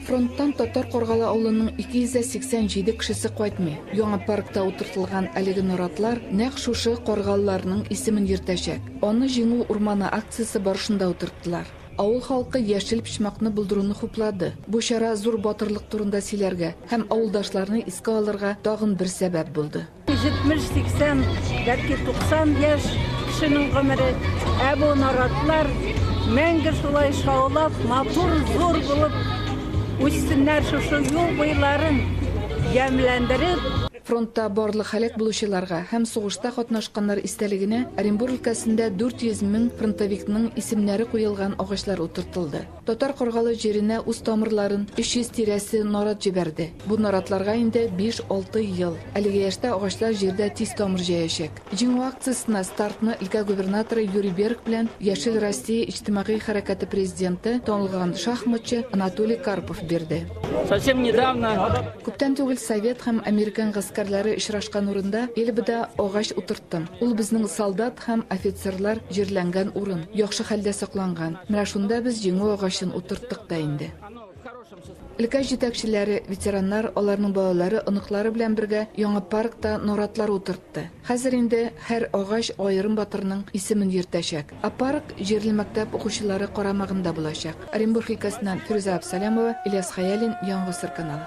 Фронттан Татар Каргалы авылының 287 кешесе кайтмый. Яңа паркта утыртылган әлеге наратлар нәкъ шушы каргалыларның исемен йөртәчәк. Аны Җиңү урманы акциясе барышында утырттылар. Авыл халкы яшел почмакны булдыруны хуплады. Бу чара зур батырлык турында сөйләргә һәм авылдашларны искә алырга тагын бер сәбәп булды. 70-80, бәлки 90 яшь кешенең гомере, ә бу наратлар мәңге шулай шаулап, матур, зур булып үссеннәр шушы юл буйларын ямьләндереп, Фронтта барлык һәлак булучыларга һәм сугышта катнашканнар истәлегенә Оренбур өлкәсендә 400 мең фронтовикның исемнәре куелган агачлар утыртылды. Татар Каргалы җиренә үз тамырларын, 300 тирәсе нарат җибәрде. Бу наратларга инде биш-алты ел. Әлеге яшьтә агачлар җирдә тиз тамыр җәячәк. Җиңү акциясенә стартны өлкә губернаторы Юрий Берг белән Яшел Россия иҗтимагый хәрәкәте президенты, танылган шахматчы Анатолий Карпов бирде. Совсем недавно. Күптән түгел совет һәм американ гаскәрләре очрашкан урында Эльбада агач утыртылды. Тын. Ул безнең солдат һәм офицерлар җирләнгән урын. Яхшы хәлдә сакланган. Менә шунда без җиңү агачын утырттык та инде. Өлкә җитәкчеләре, ветераннар, аларның балалары, оныклары белән бергә яңа паркта наратлар утыртты. Хәзер инде һәр агач аерым батырның исемен йөртәчәк. Ә парк җирле мәктәп укучылары карамагында булачак. Оренбург өлкәсеннән Фирүзә Абсалямова, Ильяс Хәялин, Яңа гасыр каналы.